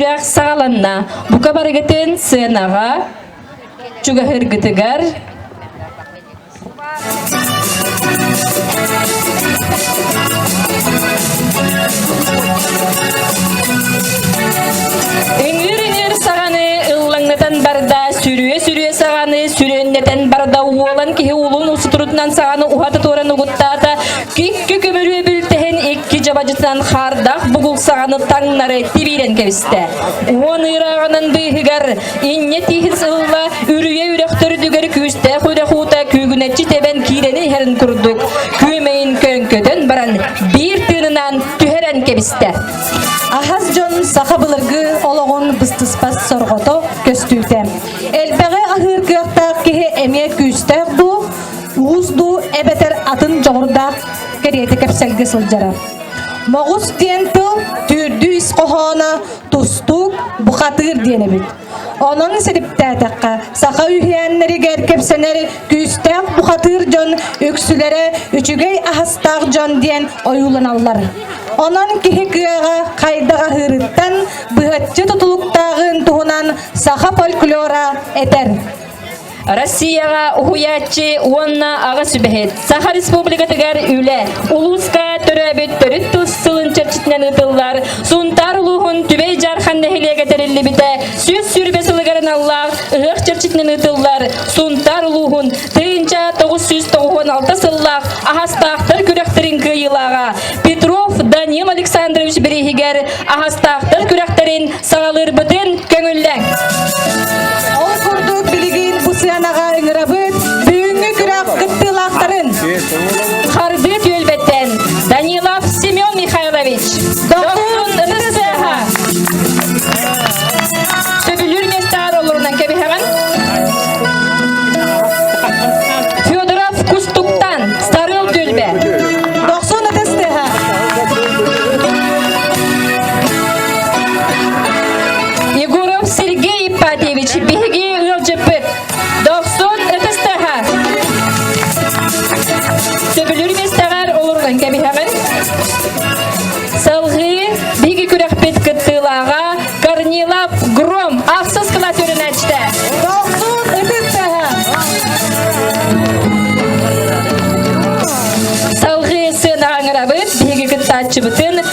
Үрэх саҕаланна. Бука барыгытын сыанаҕа чугаһыргытыгар Үҥүр-үҥүр саҕаны ыллаҥнатан барда, сүрүө-сүрүө саҕаны сүрүөннэтэн барда, уолан киһи уулун усутурутунан саҕаны уһата туоран угуттаата, Икки көмүрүө бүлтэһин икки дьабадьытынан хаардах бугулсаҕаны таҥнары тибиирэн кэбистэ. Уон ыйырааҕынан быыһыгар инньэ тииһин сылла үрүйэ үрөхтөрүдүгэр күүстээх үрэх уута күүгүнэччи тэбэн киирэн иһэрин курдук күөмэйин көҥкөтөн баран биир тыынынан түһэрэн кэбистэ. Аһас дьон саха былыргы олоҕун быстыспат сорҕото көстүүтэ. Элбэҕи аһыыр кыахтаах киһи эмиэ күүстээх дуу, уус дуу эбэтэр атын дьоҕурдаах кэриэтэ кэпсэлгэ сылдьара. Моҕус диэн тыл түүрдүү ис хоһооно тустуук, бухатыыр диэн эбит. Онон сириптээтэххэ, саха үһээннэригэр кэпсэнэр күүстээх бухатыыр дьон үксүлэрэ үчүгэй аһастаах дьон диэн ойууланаллар. Онон киһи кыаҕа хайдах аһыырыттан быһаччы тутулуктааҕын туһунан саха фольклора этэр. Россияҕа уһуйааччы уонна аҕа сүбэһит Саха Республикатыгар үлэ улууска төрөөбүт төрүт тус сылын чэрчитинэн ыытыллар Сунтаар улууһун Түбэй Дьаархан нэһилиэгэ тэриллибитэ сүүс сүүрбэ сылыгар аналлаах ыһыах чэрчитинэн ыытыллар Сунтаар улууһун тыйынча тоҕус сүүс тоҕуһуон алта сыллаах аһастаахтар күрэхтэрин кыайыылааҕа Петров Данил Александрович бирииһигэр аһастаахтар күрэхтэрин Саҕалыырбытын көҥүллэҥ! Ол курдук билигин бу сыанаҕа ыҥырабыт бүгүҥҥү күрэх кыттыылаахтарын Харбы түөлбэттэн Данилов Семен Михайлович, Дохуун НССХ Сөбүлүүр нектар олорунан кэбиһэҕин Федоров Кустуктан Старыл түөлбэ Дохсун НССХ Егоров Сергей Ипатьевич, биһиги ыалдьыппыт. Дохсун ытыстаһа. Төбүлүр мистаҕар олоргон кэбиһэҕин. Салгыы биһиги күрэхпит кыттыылааҕа Корнилов Гром ахсыс кылаас өрүнээчтэ. Дохсун ытыстаһа. Салгыы сыана аңырабыт, биһиги кыттааччыбытын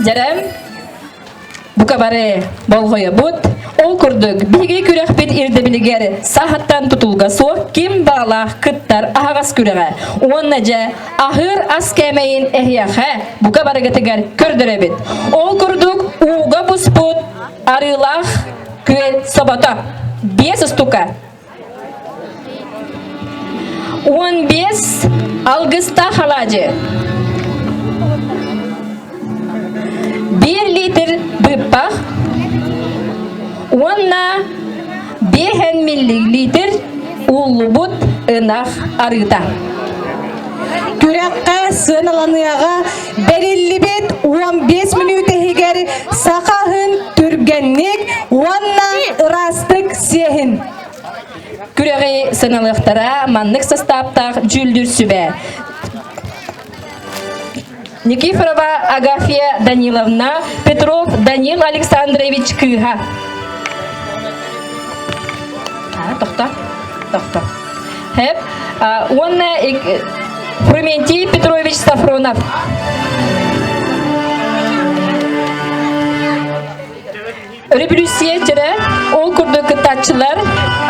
Дьэрэм, бука бары болҕойобут. Ол курдук, биһиги күрэхпит ирдэбилигэр саахаттан тутулга суох ким баалаах кыттар аһаҕас күрэҕэ уонна дьэ аһыыр ас кээмэйин эһиэхэ бука барыгытыгар көрдөрөбүт. Ол курдук ууга буспут арыылаах күөл собото, биэс устука, Уон биэс алгыстаах алаадьы. Биир литр быыппах уонна биэһэн миллилитр уллубут ынах арыыта. Күрэххэ сыаналаныаҕа Бэриллибит уон биэс мүнүүтэ иһигэр саха аһын түргэнник уонна ыраастык сиэһин. Күрэҕи сыналыахтара маннык састааптаах дьүүллүүр сүбэ. Никифорова Агафия Даниловна, Петров Данил Александрович Кыыха. Тохто, тохто. уонна Фрументий Петрович Сафронов. Революция түрө ол курдук кыттааччылар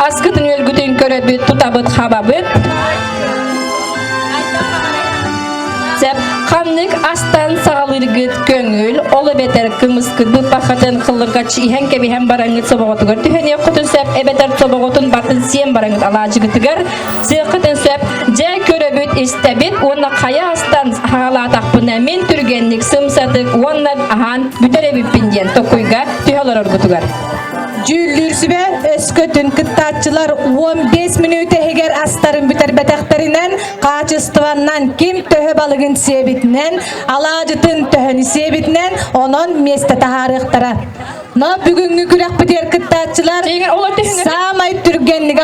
аскытын өлгүтүн көрөбүт, тутабыт, хабабыт. Сеп ханнык астан саҕалыыргыт көҥүл, ол эбэтэр кымыскыт быппахатын хыллыҥкаччы иһэн кэбиһэн бараҥҥыт собоҕотугар түһэниэххитин сөп эбэтэр собоҕотун батын сиэн бараҥҥыт алаадьыгытыгар сыаххытын сөп дьэ көрөбүт истэбит уонна хайа астан хаалаатахпына мин түргэнник сымсатык уонна аһаан бүтэр эбиппин диэн токуйга түһэ олороргутугар дьүүллүүр сүбэ өскөтүн кыттааччылар 15 мүнүүтэ иһигэр астарын бүтэрбэтэхтэринэн хаачыстыбаннан ким төһө балыгын сиэбитинэн алаадьытын төһөнү сиэбитинэн онон миэстэ таһаарыахтара но бүгүҥҥү күрэхпитигэр кыттааччылар саамай түргэнник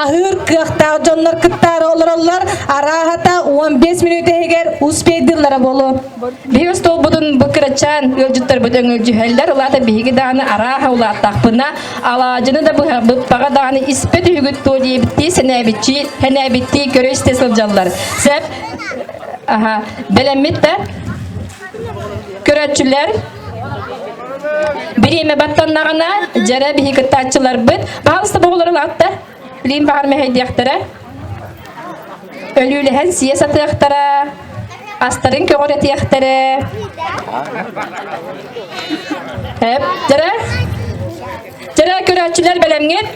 аһыыр кыахтаах дьоннор кыттаары олороллор арааһата 15 минут иһигэр успейдыыллара буолуо Биһиги столбутун бу кырачаан ыалдьыттарбыт өҥөлдьүһэллэр. Улаата биһиги дааны арааһа улааттахпына, алаадьыны да быһаппаҕа дааны испэт үһүгүт туо диэбиттии, сэнээбиччи, хэнээбиттии көрө-истэ сылдьаллар. Сөп? Аха, бэлэммит да? Көрөччүлэр, бириэмэ баттаннаҕына, дьэрэ биһи кыттааччыларбыт. Баҕалыста боҕулар улаатта? Илиим баһар мэһэйдиэхтэрэ. Өлүүлэһэн сиэ сатыахтара. Астарын көҕүрэтиэхтэрэ. Эптэрэ. Дьэрэ көрөөччүлэр бэлэмҥит.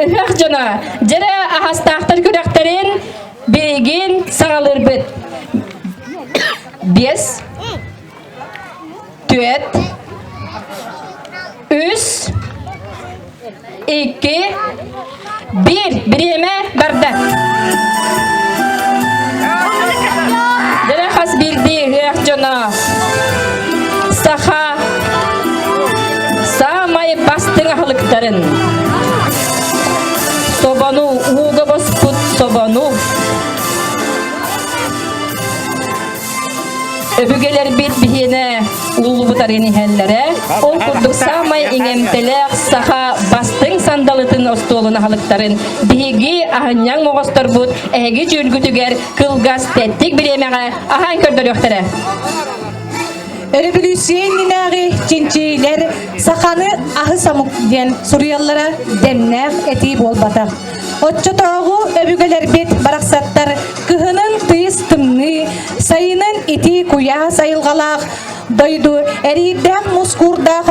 Ыһыах дьоно, дьэрэ аһастаахтар күрэхтэрин билигин саҕалыырбыт. Биэс, Түөрт, үс, iki, bir. Бириэмэ барда. Дэлэх хас биирдии ыах дьоно. Саха саамай бастыҥ аһылыктарын собону ууга боспут собону Өбүгэлэрбит биһиэнэ уулубутарын иһэллэрэ. Ол курдук саамай иҥэмтэлээх саха бастыҥ сандалытын остуолун аһылыктарын биһиги аһынньаҥ оҕосторбут эһиги дьүүлгүтүгэр кылгас тэттик бириэмэҕэ аһаан көрдөрүөхтэрэ. Революционнааҕы чинчиилэр саханы аһы самук диэн суруйаллара дэмнээх этии буолбатах. Оччотооҕу өбүгэлэрбит барахсаттар кыһынын тыыс тымныы, сайынын итии куйаас айылҕалаах, дойду эриирдээх мускуурдаах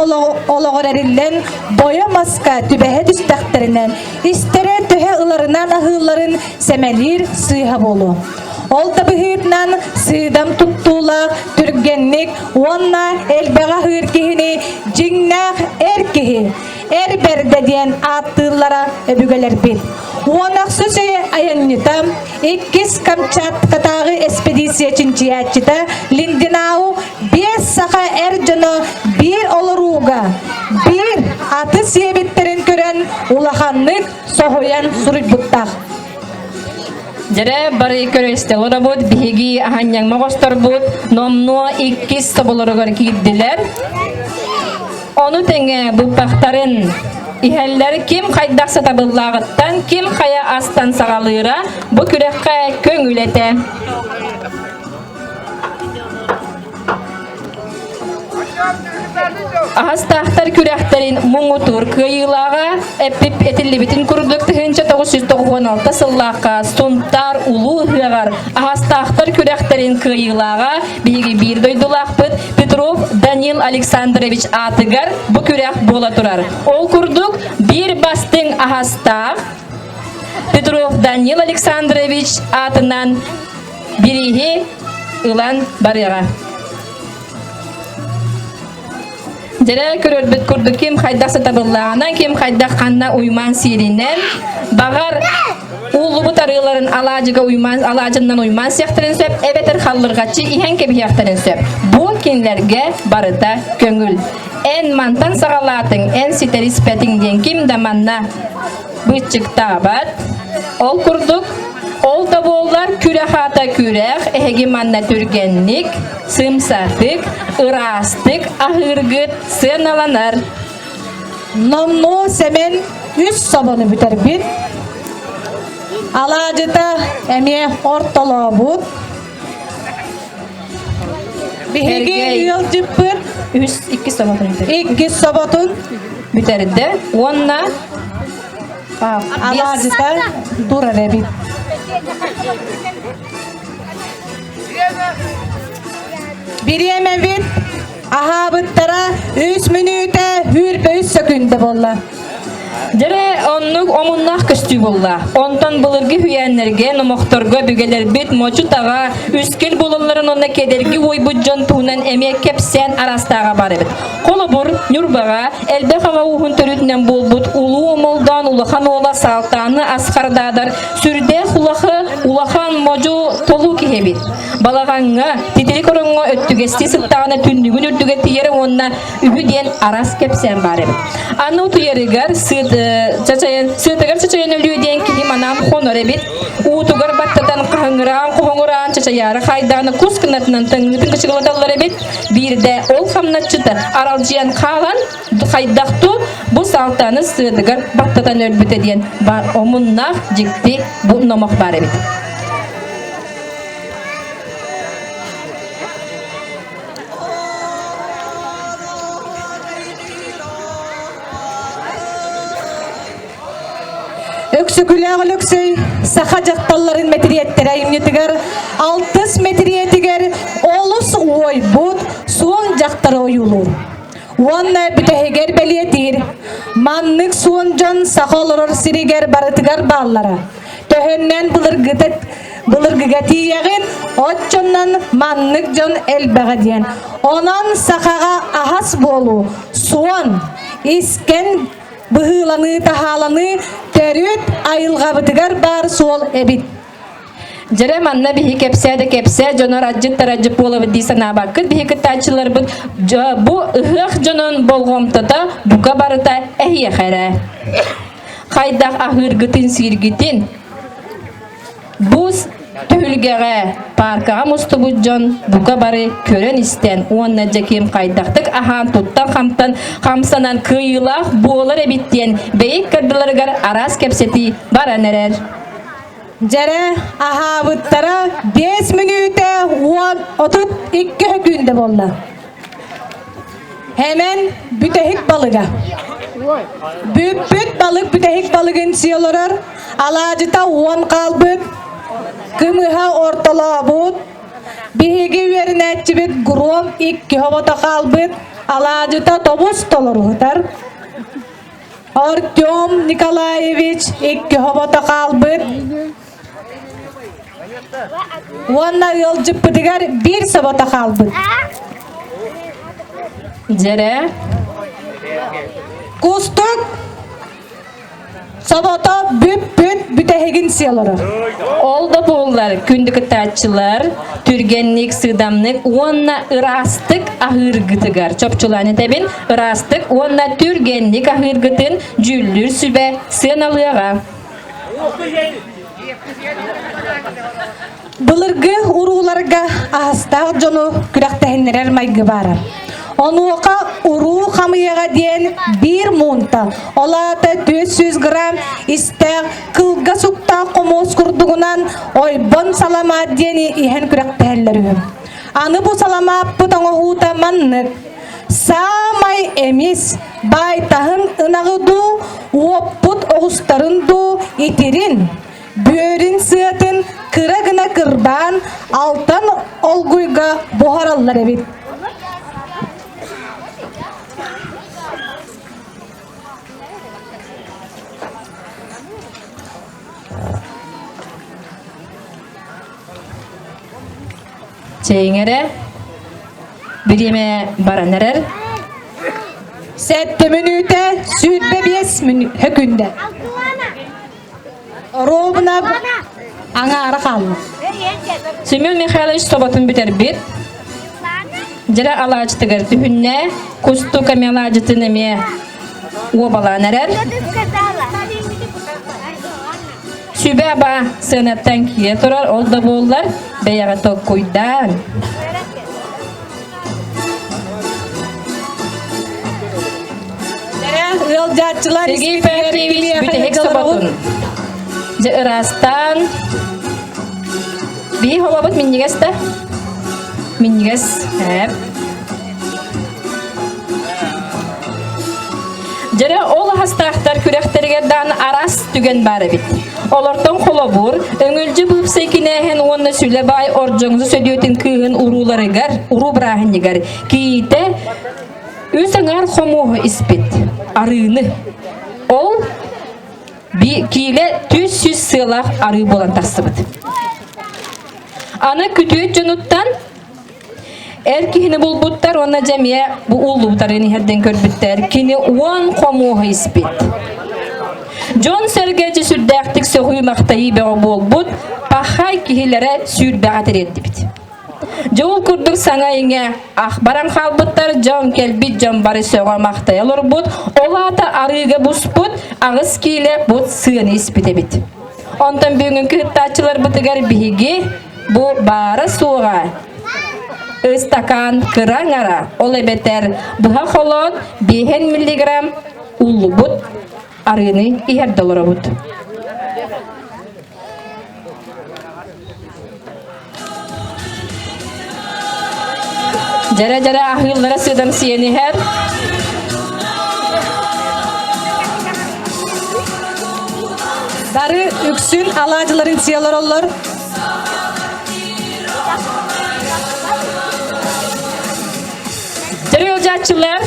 олоҕор эриллэн бойо-маска түбэһэ түстэхтэринэ истэрэ төһө ыларынан аһыылларын сэмэлиир сыыһа буолуо. Ол табыһыытынан сыыдам туттуулаах түргэнник уонна элбэҕи аһыыр киһини дьиҥнээх эр киһи Эр бэрдэ диэн ааттыыллара өбүгэлэрбин. Уонахсу айанньыта иккис Камчаткатааҕы эспедиция чинчийээччитэ Линдинау биэс саха эр дьоно биир олорууга биир аты сиэбиттэрин көрөн улаханнык соһуйан суруйбуттар. Дьэрэ бары көрөстөҕө робут биһиги аһанньаҥма босторбут номнуо иккис тоболоругар киирдилэр. Ону тэҥэ быппахтарын иһэллэр ким хайдах сатабыллааҕыттан, ким хайа астан саҕалыыра бу күрэххэ көҥүл этэ. Аһастаахтар күрэхтэрин муҥутуур кыайыылааҕа эппип этиллибитин курдук тыһыынча тоҕус жүз тоҕуһуон алта сыллаахха Сунтаар улуу ыһыаҕар аһастаахтар күрэхтэрин кыайыылааҕа биһиги биир дойдулаахпыт Петров Данил Александрович аатыгар бу күрэх буола турар. Ол курдук биир бастыҥ аһастаах Петров Данил Александрович аатынан Бирииһи ылан барыаҕа. Дьэрэ көрөрбүт курдук ким хайдах сатабыллааҕынан, ким хайдах ханна уймаан сиэринэн, баҕар ууллубут арыыларын алаадьыга уймаан алаадьыннан уймаан сиэхтэрин сөп эбэтэр халлырҕаччы иһэн кэбиһиэхтэрин сөп. Бу кинилэргэ барыта көҥүл. Эн мантан саҕалаатыҥ, эн ситэр испэтиҥ диэн ким да манна быччыктаабат. Ол курдук, ол да буоллар күрэ-хаата күрэх эһиги манна түргэнник, сымсатык, ыраастык аһыыргыт сыаналанар. Номнуо Сэмэн үс собону бүтэрбит. Алаадьыта эмиэ ортолообут. Биһиги ыал дьыппыр үс иккис соботун иккис соботун бүтэрдэ уонна алаадьыта турар эбит. Бириэмэбит Аһаабыттара үс мүнүүтэ үүрбэ үс сөкүндэ буолла. Дьэре оннук омуннаах көстүү булла. Онтон былыргы үһүйээннэргэ, номохторго бүгэлэрбит мочутаҕа үскил булалларын онно кедерги уойбут дьон туһунан эмиэ кэпсээн арастааҕа бар эбит. Холобур, Ньурбаҕа элбэх аҕа ууһун төрүтүнэн буолбут улуу омолдоон улахан уола Салтааны Асхардаадар сүрдээх улаха, улахан модьу толуу киһи эбит. Балаҕаҥҥа, титири короҥҥо өттүгэстии сыттаҕына түннүгүн үрдүгэ тиийэр уонна үһү диэн арас кэпсээн баар эбит. Аны утуйарыгар сыатыгар чачайын өлүө диэн киһи манаан хонор эбит. Уутугар баттатан хаһыҥыраан хоһоҥураан чачайаары хайдааны кус кынатынан төҥҥүтүн кычыгылаталлар эбит. Биирдэ ол хамначчыта аралдьыйан хаалан хайдахту бу салтаны сыатыгар баттатан өлбүтэ диэн бар омуннаах дьикти бу номох бар эбит. Өксөкүлээх Өлөксөй саха дьахталларын мэтириэттэрэ айымньытыгар алтыс мэтириэтигэр олус уойбут суон дьахтары ойуулуур. Уонна бүтэһигэр бэлиэтиир маннык суон дьон саха олорор сиригэр барытыгар бааллара. Төһөннөн былыргытык былыргыга тиийэҕин, оччонон маннык дьон элбэҕэ диэн. Онон сахаҕа аһас буолуу, суон, искэн быһыыланыы таһааланыы төрүт айылҕабытыгар баар суол эбит. Дьэрэ манна биһи кэпсээ да кэпсээ дьонор адьыт тарадьыт буолабыт дии санаабаккыт биһи кыттааччыларбыт бу ыһыах дьонун болҕомтото бука барыта эһиэхэ эрэ. Хайдах аһыыргытын-сииргитин бус түһүлгэҕэ пааркаҕа мустубут дьон бука бары көрөн-истэн уонна Дьэкиим хайдахтык аһаан туттан-хамтан хамсанан кыайыылаах буолар эбит диэн бэйик кырдыларыгар араас кэпсэтии баран эрэр. Дьэрэ аһаабыттара биэс мүнүүтэ уон отут икки күндэ буолла. Hemen бүтэһик балыга. Бүппүт балык бүтэһик балыгын сиэ олорор. Алаадьыта уон хаалбыт. Кымыһа ортолообут. Биһиги үөрэнээччибит Гром икки хобото хаалбыт. Алаадьыта тобус толоруһутар. Артем Николаевич икки хобото хаалбыт. Уонна ыалдьыппытыгар биир собото хаалбыт. Дьэрэ. Кустук Собото бүт-бүт бүтэһигин сиэлоро. Ол да буоллар күндү кытааччылар түргэнник, сыдамнык уонна ыраастык аһыыргытыгар чопчулаан этэбин ыраастык уонна түргэнник аһыыргытын дьүүллүүр сүбэ сыаналыаҕа. Былыргы урууларга аһастаах дьону күрэхтэһиннэрэр майгы баара. Онуоха уруу хамыйаҕа диэн биир муунта, ол аата түөрт сүүс грамм истээх кылга суктаах хомуос курдугунан ойбон саламаат диэни иһэн күрэхтэһэллэр үһү. Аны бу саламааппыт оҥоһуута маннык. Саамай эмис байтаһын ынаҕы дуу, уоппут оҕустарын дуу итирин, бүөрүн сыатын кыра гына кырбаан алтан олгуйга буһараллар эбит. Чэйиҥэрэ бириэмэ баран эрэр. Сэттэ мүнүүтэ сүүрбэ биэс мүнүүтэ күндэ. Оруобунап аҥаара хаалла. Семен Михайлович тоботун бүтэрбит. Дьире алаачытыгар түһүннэ. Кустука меладжытын эмиэ уобалаан эрэр. Сүбэ-аба сыанаттан киирэ турар ол да буоллар бэйэҕэ толкуйдаан. ыалдьааччылар Сергей Феофеевич бүтэһик соботун дьэ ыраастаан бии хомобут минньигэс да минньигэс эп Дьэрэ ол аһастаахтар күрэхтэригэр даан араас түгэн баар эбит. Олортон холобур, өҥүлдьү быыпсай кинээһин уонна сүлэ баай ордоҥзу сөдүөтүн кыыһын урууларыгар, уруу бырааһынньыгар киитэ үс аҥаар хомуоһу испит. Арыыны. Ол киилэ түс-сүс сыалаах арыы буолан тахсыбыт. Аны күтүөт дьонуттан Эр киһини булбуттар уонна дьэ эмиэ бу ууллубуттарын иһэрдэн көрбүттэр. Кини уон хомуоһа испит. Дьон-сэргэ сүрдээхтик сөҕүү-махтайыы бөҕө буолбут пахай киһилэрэ сүүрбэҕэ тириэрдибит. Дьэ ол курдук саҥа-иҥэ ах баран хаалбыттар дьон кэлбит дьон бары сөҕө-махтайа олорбут. Ол аата арыыга буспут аҕыс киилэ бут сыаны испит эбит. Онтон бүгүнҥү кыттааччыларбытыгар биһиги Бу баара-суоҕа ыстакаан кыра аҥара, ол эбэтэр быһа холоон 5 миллиграмм уллубут арыыны иһэрдэ олоробут. Дьэрэ-дьэрэ аһыыллара сыдан сиэн иһэр. Бары үксүн алаадьыларын сиэлэр олор. Дьоруолжааччылар,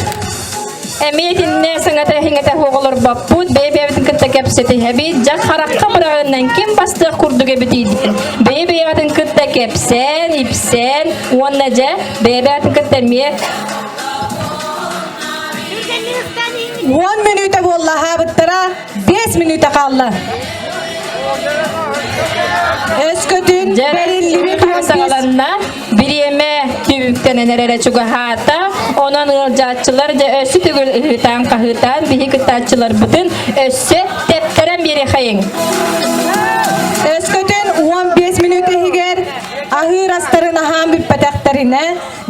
эмиэ итинне сыңата иһиҥэтэ хоҕолорбоппут, бэйэ-бэйэбитин кытта кэпсэтиһэбит, дьах харахха мыраҕыннан ким бастыах курдук эбитийдин. Бэйэ-бэйэбитин кытта кэпсээн, ипсээн уонна дьэ бэйэ-бэйэбитин кытта эмиэ Уон мүнүүтэ буоллаһаабыттара Биэс мүнүүтэ хаалла. Өскөтүн бэриллибит саҕаланна. Бириэмэ түбүктэнэн эрэрэ чугаһаата. Онон ыалдьааччылар дьэ өссө түгүл ыһыытаан-хаһыытаан биһи кыттааччыларбытын өссө тэптэрэн биэриэхэйиҥ. Өскөтүн 15 мүнүүт иһигэр аһыыр астарын аһаан бүппэтэхтэринэ,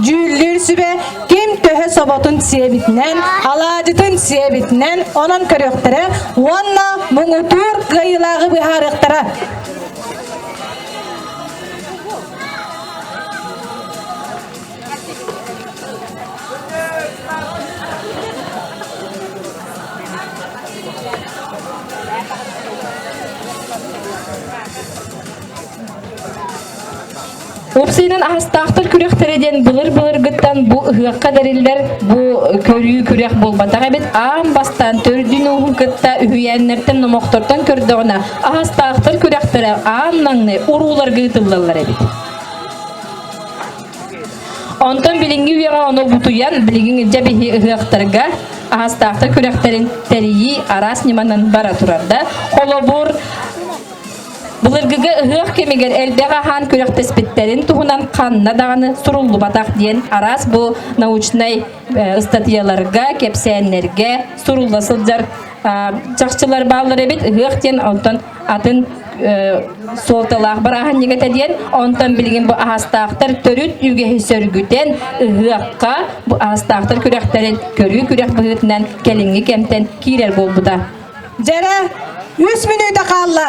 дьүүллүүр сүбэ ким төһө соботун сиэбитинэн, алаадьытын сиэбитинэн онон көрүөхтэрэ уонна муҥутуур кыайыылааҕы быһаарыахтара. Thank you. Уопсайынан аһастаахтар күрэхтэрэ диэн былыр-былыргыттан бу ыһыахха тэриллэр бу көрүү күрэх буолбатах эбит. Аан бастаан төрдүн-ууһун кытта үһүйээннэртэн номохтортон көрдөҕүнэ аһастаахтар күрэхтэрэ аан наҥны урууларга ыытыллаллар эбит. Онтон билиҥҥи үйэҕэ ону бутуйан билигин илдьэ биһи ыһыахтарга аһастаахтар күрэхтэрин тэрийии араас ньыманан бара турарда. Холобур, Былыргыга ыһыах кэмигэр элбэх аһаан күрэхтэспиттэрин туһунан ханна даҕаны суруллубатах диэн араас бу научнай э, ыстатыйаларга, кэпсээннэргэ сурулла сылдьар чахчылар бааллар эбит ыһыах диэн онтон атын суолталаах бырааһынньык этэ диэн онтон билигин бу аһастаахтар төрүт үгэһи сөргүтэн ыһыахха бу аһастаахтар күрэхтэрин көрүү күрэх быһыытынан кэлиҥҥи кэмтэн киирэр буолбута Дьэрэ, үс мүнүүтэ хаалла.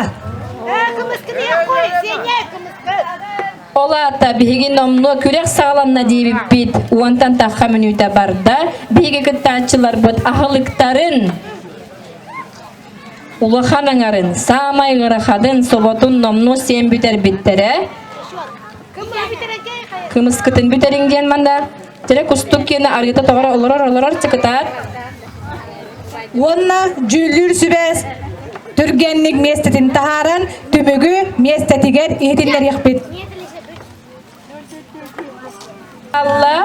Ол аата биһиги номнуо күрэх саҕаланна диэбиппит уонтан тахха мүнүүтэ барда. Биһиги кыттааччыларбыт аһылыктарын улахан аҥарын, саамай ыарахатын, соботун номнуо сиэн бүтэрбиттэрэ. Кымыскытын бүтэриҥ диэн манна Тирэ кустук киэнэ арыыта тоҕоро олорор олорор сыкытаат уонна дьүүллүүр сүбэс түргэнник миэстэтин таһааран түбүгү миэстэтигэр иһитиннэриэхпит. Алла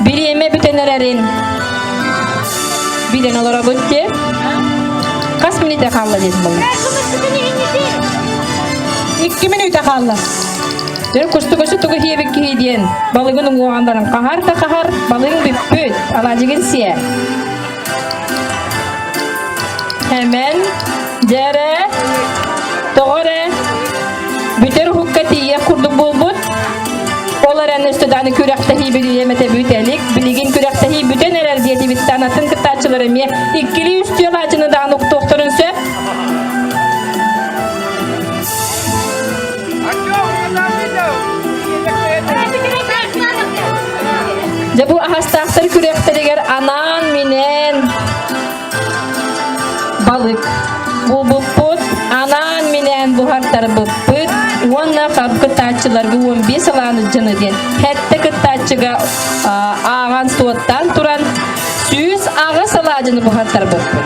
Бириэмэ бүтэн эрэрин билэн олоробут те хас минута хаалла дед балын икки минута хаалла Төр кустугасы тугу хиэбик киһи диэн балыгын уҥуоҕан баран хаһар да хаһар балыгын бүппүт алаадьыгын сиэ Эмэн, дьээрэ, тоҕо эрэ бүтэр уһукка тиийиэх курдук буолбут. Ол эрэн үстүдааны күрэхтэһии билиэм этэ бүтэлик. Билигин күрэхтэһии бүтэн эрэр диэтибиттэн атын кыттааччылар эмиэ иккилии үстүөх аачыны даҕаны уктуохтарын сөп. Дьэ бу аһастаахтар күрэхтэригэр анаан минээн балык булбуппут, анаан минээн буһартарбыппыт уонна хап кыттааччыларга 15 алааны дьыны диэн хэттэ кыттааччыга ааҕан суоттаан туран сүүс аҕыс алаадьыны буһартарбыппыт.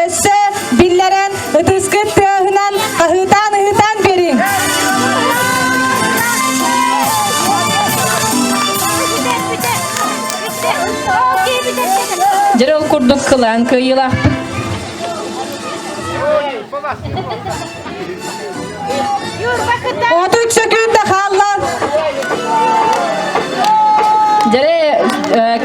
Өссө биллэрэн ытыскыт тыаһынан аһыытаан-аһыытаан бэриҥ. Дьэр ол курдук кылаан кыайыылаахпыт. Отут сөкүүтэ хаалла. Дьэре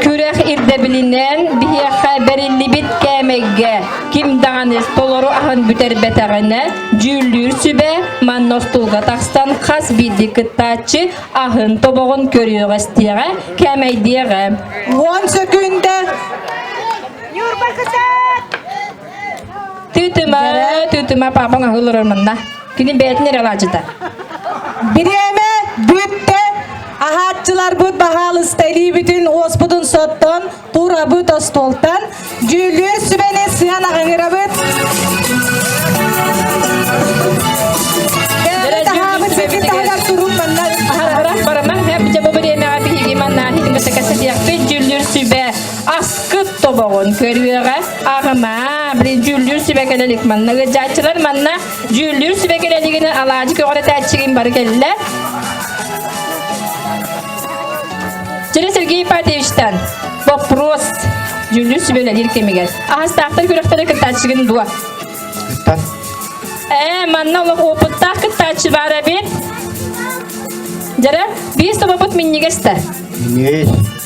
күрэх ирдэбилинэн биһиэхэ бэриллибит кээмэйгэ ким даҕаны толору аһын бүтэрбэтэҕинэ дьүүллүүр сүбэ манна остуулга тахсан хас биирдии кыттааччы аһын тобоҕун көрүөх истиэҕэ кээмэйдиэҕэ. Уон сөкүүндэ. Тытыма, тытыма, папаң аһы олорор манна. Кини бэйэтин эрэ алаадьыта. Бириэмэ бүттэ. Аһааччыларбыт баһаалысталиибитин уоспутун соттон, турабыт остуолтан, дьүүллүүр сүбэни сыан аҕыҥырабыт. Таһаабыт ситин таһыгар турун манна. Барама, бача бу бириэмэҕэ биһиги манна хитимэтэ кэсэтиэхпит, дьүүллүүр сүбэ аскыт тобоҕун көрүөҕэ. Аарама, блин, дьүүллүүр сүбэ кэлелик манна ыжааччылар манна дьүүллүүр сүбэ кэлелигини алаадьы көҕөрө тээччигин бары кэллэр. Через Сергей Патевичтан вопрос дьүүллүүр сүбэлэлир кэмигэр. Ахастаахтар күрөктөрө кыттааччыгын дуо? Кыттан. Ээ, манна олох опыттаах кыттааччы бар эбин. Жара, биир собопут миннигеста. Миннигес.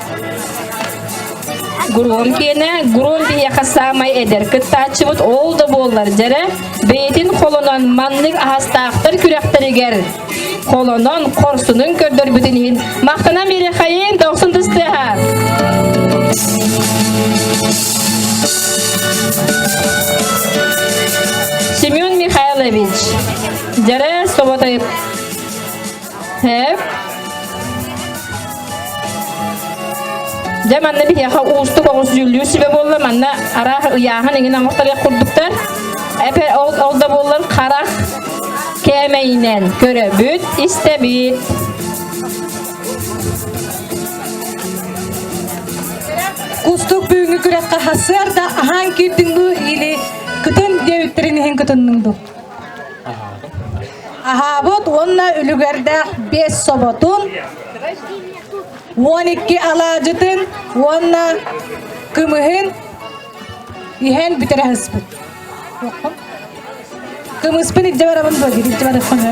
Грумкине Грум биһиэхэ саамай эдэр кыттааччыбыт ол да буоллар дьэрэ бэйэтин холонон маннык аһастаахтар күрэхтэригэр холонон хорсунун көрдөрбүтүн иһин махтана мирэхэйин дохсун тыстыаха Семен Михайлович дьэрэ соботайып Сэп. Дьэ, манна биһиэхэ уустук оҕус дьүүллүүр сүбэ буолла. Манна араах ыйааһын иҥин оҥохторуох курдуктар. Эпэ ол, ол да буоллар хара кээмэйинэн көрөбүт, истэбит. Кустук бүгүнгі күрэххэ хасыарда аһаан киирдиҥ бу или кытын диэбиттерин иһин кытынныҥ Аһаабыт уонна үлүгэрдээх биэс соботун, уон икки алаадьытын уонна кымыһын иһэн бүтэрэ сыспыт. Кымыспын илдьэ барабын дуо, илдьэ бараппыны.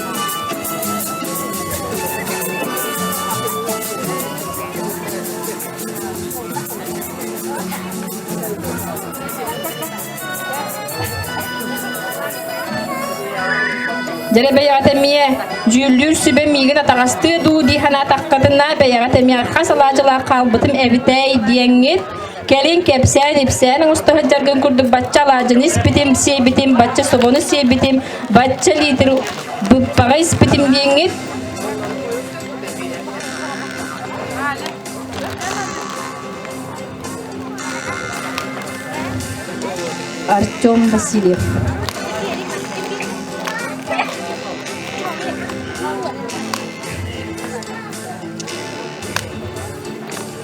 Дәребэйэҕэ тэммие, дьүүллүүр сүбэ миигин атаҕастыы дуу дии санаатаххытына, бэйэҕэ тэмиэ архас алаадьылаах хаалбытым эбитэй диэҥҥит, Кэлин кэпсээн, ипсээн оҥосто сылдьаргын курдук бачча алаадьыны испитим, сиэбитим, бачча собону сиэбитим, бачча лиитир быппаҕа испитим дииҥҥит. Артем Васильев.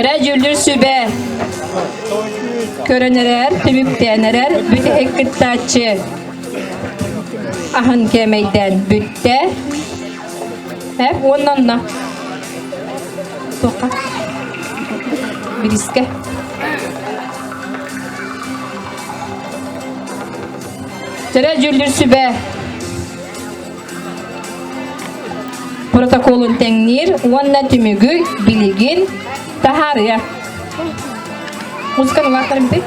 Эрэ дьүүллүүр сүбэ көрөн эрэр, түмүктээн эрэр бүтэһик кыттааччы аһын кээмэйдээн бүттэ. Эп уонна онно. Тоқа. Бириискэ. Тэрэ дьүүллүүр сүбэ протоколун тэҥниир уонна түмүгү билигин таһаарыа. Музыканы улааттарым бит.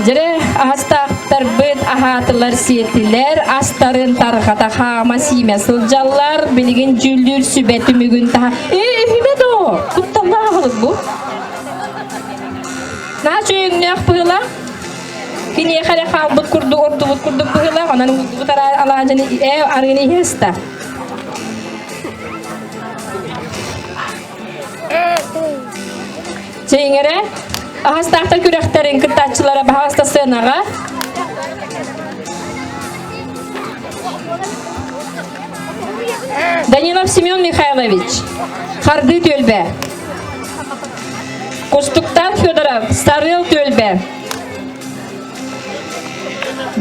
Дьире астаахтарбыт аһаатылар сиэтилэр, астарын тарҕата хаама сиимэ сылдьаллар, билигин дьүүллүүр сүбэ түмүгүн таһа. Ээ, үһүмэ до! Кутталлаах бу? На чөйүҥнөөх пыла? Киниэхэ эрэ хаалбыт курдук ордубут курдук быһыылаах, онон уурдубут алаадьыны ээ арыыны иһэ ыста. Чэйиҥэрэ аһастаахтар күрэхтэрин кыттааччылара баһаҕаста сыанаҕа. Данилов Семен Михайлович, Хардыы түөлбэ. Кустуктан Федоров Сарыл Түөлбэ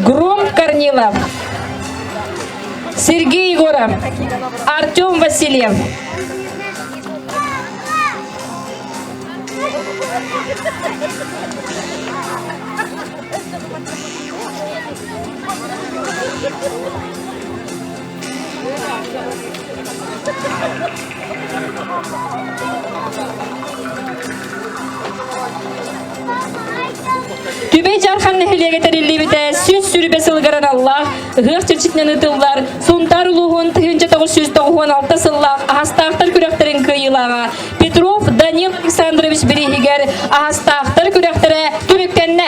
Грум Корнилов Сергей Егоров Артем Васильев Түбэй Жархан нэһилиэгэ тэриллибитэ сүн сүрүбэ сылыгар аналлаах ыһыах чэрчитинэн ытыллар Сунтаар улууһун тыһыынча тоҕус жүз тоҕуһуон алта сыллаах аһастаахтар күрэхтэрин кыайыылааҕа Петров Данил Александрович бирииһигэр аһастаахтар күрэхтэрэ түмүктэннэ.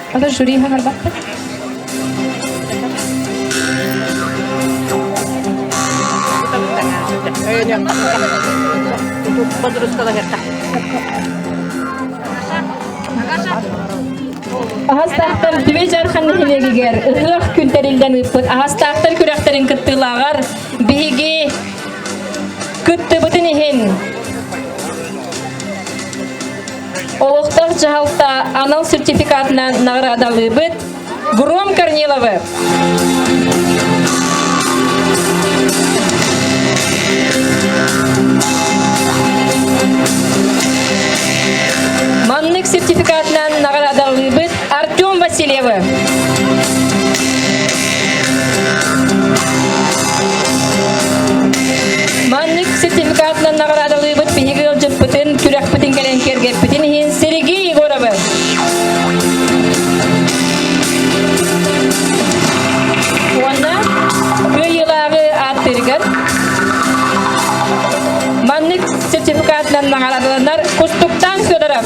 Ата жюри иһэн барбаккыт? Аһастаахтар Түбэй Жархан нэһилиэгигэр ытыах күн тэриллэн ыыппыт аһастаахтар күрэхтэрин кыттыылааҕар биһиги кыттыбытын иһин Олохтор дьаһалта анал сертификатынан наҕараадалыыбыт. Гром Корниловы! Маннык сертификатынан наҕараадалыыбыт Артем Васильевы. Маннык сертификатынан наҕараадалыыбыт биһиги ыалдьыппытын, күрэхпитин кэлэн киэргэппитин иһин Сергей Егоровы. Уонна кыайыылааҕы ааттыырыгар маннык сертификатынан наҕараадаланар Кустуктаан Федоров.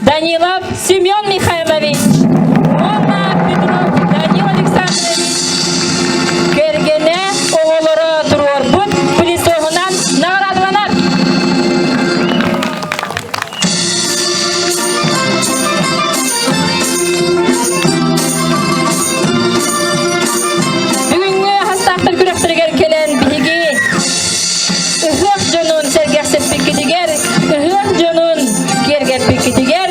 Данилов Семен Михайлович уонна Петров Данил Александрович кэргэнэ оҕолоро туруорбут плитоһунан наградаланар. Бүгүҥҥү хастаахтар күрэхтэригэр кэлэн биһиги Ыһыах дьонун сэргэхсиппиккитигэр, ыһыах дьонун киэргэппиккитигэр